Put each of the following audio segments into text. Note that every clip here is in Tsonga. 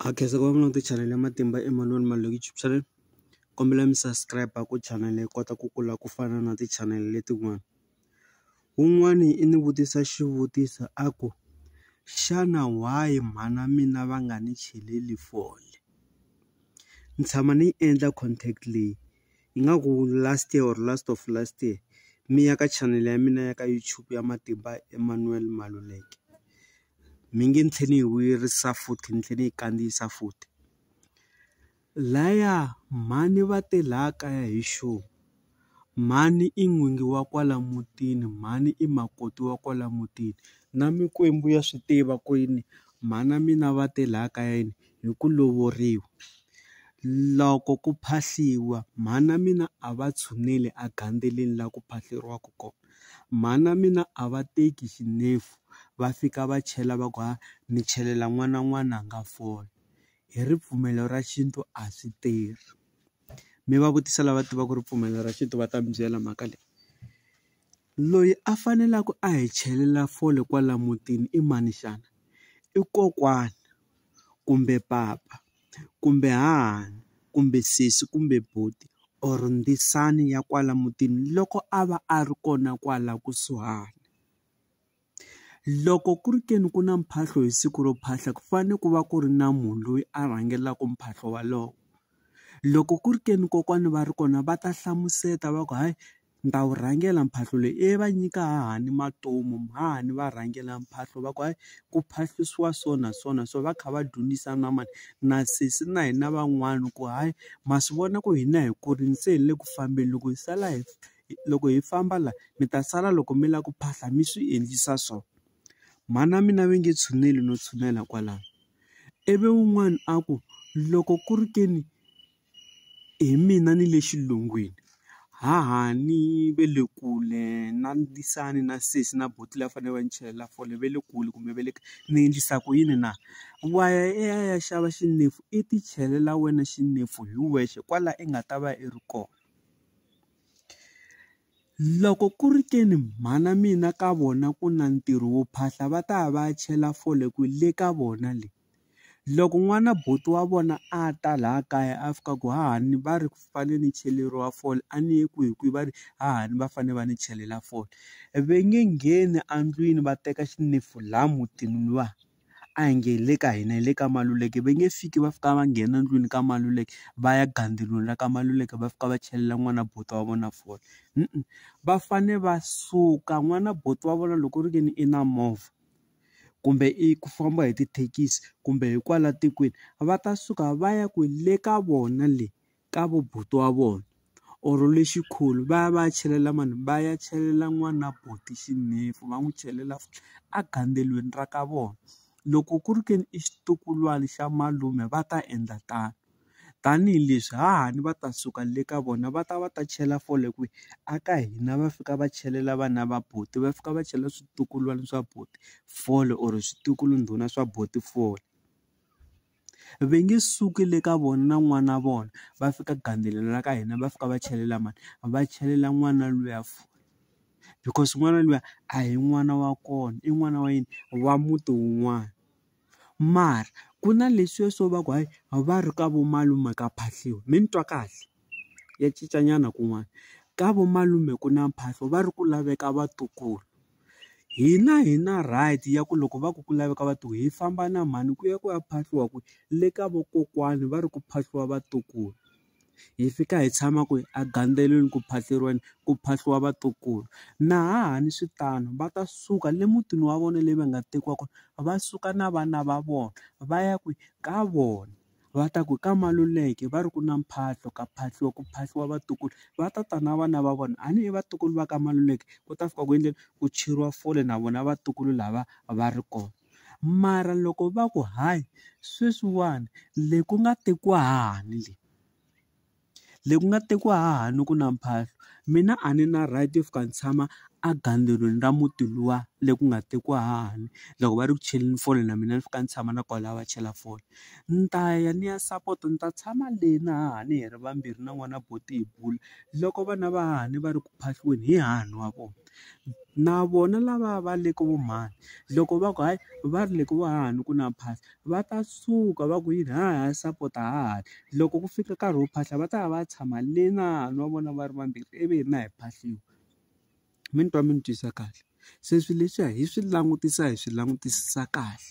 Ha khensa ku va mi langute chanel ya Matimba Emanuel Maluleke YouTube channel kombela mi subscribe ku chanel yi kota ku kula ku fana na ti chanel letin'wana wun'wani i ni vutisa xivutiso a ku xana why mhana mina va nga ni cheleli fole ni tshama ni yi endla contact leyi ingaku last year or last of last year mi ya ka chanel ya mina ya ka YouTube ya Matimba Emanuel Maluleke mi nge ni tlhe ni yi vuyerisa futhi ni tlhe ni yi kandziyisa futhi laya mhani va te la kaya hi xo mhani i n'wingi wa kwala mutini mhani i makoti wa kwala mutini na mikwembu ya swi tiva ku yini mhana mina va te la kaya yini hi ku lovoriwa loko ku phahliwa mhana mina a va tshuneli a gandzeleni la ku phahleriwaka kona. Mhani wa mina a va teki xinefu va fika va chela va ku ha ni chelela n'wana n'wana a nga fole hi ripfumelo ra xintu a swi tirhi mi va vutisa lava tivaka ripfumelo ra xintu va ta mi byela mhaka leyi loyi a faneleke a hi chelela fole kwala mutini i mani xana i kokwana kumbe papa. kumbe hahani kumbe sesi kumbe buti or ndzisana ya kwala mutini loko a va a ri kona kwala kusuhani loko ku ri ke ni ku na mphahlo hi siku ro phahla ku fanele ku va ku ri na munhu loyi a rhangelaka mphahlo wolowo loko ku ri ke ni kokwana va ri kona va ta hlamusela va ku hayi Ni ta wu rhangela mphahlo leyi e va nyika hahani matomu hahani va rhangela mphahlo va ku hayi ku phahlisiwa so na so na so va kha va dyondzisa na mani na sesi na hina van'wani ku hayi ma swi vona ku hina hi kurile se hi le ku fambeni loko hi sala hi loko hi famba la mi ta sala loko mi lava ku phahla mi swi endlisa so mhana mina va nge tshuneli no tshunela kwalano ivi wun'wani a ku loko ku ri ke ni. Hi mina ni le xilungwini haha ni ve le kule na ndzisana na sesi na buti leyi a fanele va ni chelela fole va le kule kumbe va le ka ni endlisa ku yini na wa ya i ya i ya xava xinefu i ti chelela wena xinefu hi wexe kwala i nga ta va i ri kona loko ku ri ke ni mhana mina ka vona ku na ntirho wo phahla va ta ya va ya chela fole kwihi le ka vona le. Loko n'wana buti wa vona a ta laha kaya a fika ku hahani va ri fanele ni cheleriwa fole a ni yi kwihi kwihi va ri hahani va fanele va ni chelela fole ve nge ngheni endlwini va teka xinefu laha mutini luwa a hi nge hi le ka hina hi le ka Maluleke va nge fiki va fika va nghena endlwini ka Maluleke va ya gandzeriwini la ka Maluleke va fika va chelela n'wana buti wa vona fole va fane va suka n'wana buti wa vona loko ri ve ni i na movha kumbe i ku famba hi tithekisi kumbe hi kwala tikweni va ta suka va ya ku le ka vona le ka vo buti wa vona or le xikhulu va ya va ya chelela mani va ya chelela n'wana buti xinefu va n'wi chelela a gandzeliweni ra ka vona loko ku ri ke ni i xitukulwana xa malume va ta endla tano. tanihileswi hahani va ta suka le ka vona va ta va ta chela fole kwihi a ka hina va fika va chelela vana va buti va fika va chela switukulwana swa buti fole or switukulu ndhuna swa buti fole va nge suki le ka vona na n'wana wa vona va fika gandzelo ka hina va fika va chelela mani va chelela n'wana luya fole because n'wana luya a hi n'wana wa kona i n'wana wa yini wa muti wun'wana. mara ku na leswiya swo va ku hayi a va ri ka vo malume ka phahliwa mi ni twa kahle ya cinca nyana kun'wana ka vo malume ku na mphahlo va ri ku laveka vatukulu hina hi na right ya ku loko va ku ku laveka vatukulu hi famba na mhani ku ya ku ya phahliwa kwihi le ka vakokwani va ri ku phahliwa vatukulu. hi fika hi tshama kwihi a gandzeliweni ku phahluriweni ku phahliwa vatukulu na hahani swi tano va ta suka le mutini wa vona leyi va nga tekiwa kona va suka na vana va vona va ya kwihi ka vona va ta ku ka Maluleke va ri ku na mphahlo ka phahliwa ku phahliwa vatukulu va ta ta na vana va vona a ni i vatukulu va ka Maluleke ku ta fika ku endleni ku cheriwa fole na vona vatukulu lava va ri kona. Mara loko va ku hayi sweswiwani le ku nga tekiwa hahani le, le ku nga tekiwa hahani ku na mphahlo mina a ni na right yo fika ni tshama a gandzwelweni ra muti luwa le ku nga tekiwa hahani loko va ri ku cheleni fole na mina ni fika ni tshama na kwalaya va chela fole ni ta ya ni ya sapota ni ta tshama le na hahani hi ri vambirhi na n'wana buti hi bula loko vana va hahani va ri ku phahliweni hi hahani wa vona. na vona lava va le ka vo mhani loko va ku hayi va ri le ku va hahani ku na phahla va ta suka va ku yini hayi hayi sapota hahani loko ku fika nkarhi wo phahla va ta ya va ya tshama le na na vona va ri vambirhi ivi hina hi phahliwa mi ni twa mi ni twisa kahle se swilo leswiya hi swi langutisa hi swi langutisisa kahle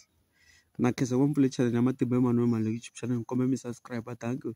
na khensa ngopfu le channel ya matimba ya manana Maluleke YouTube channel ni kombela mi subscribe dankie.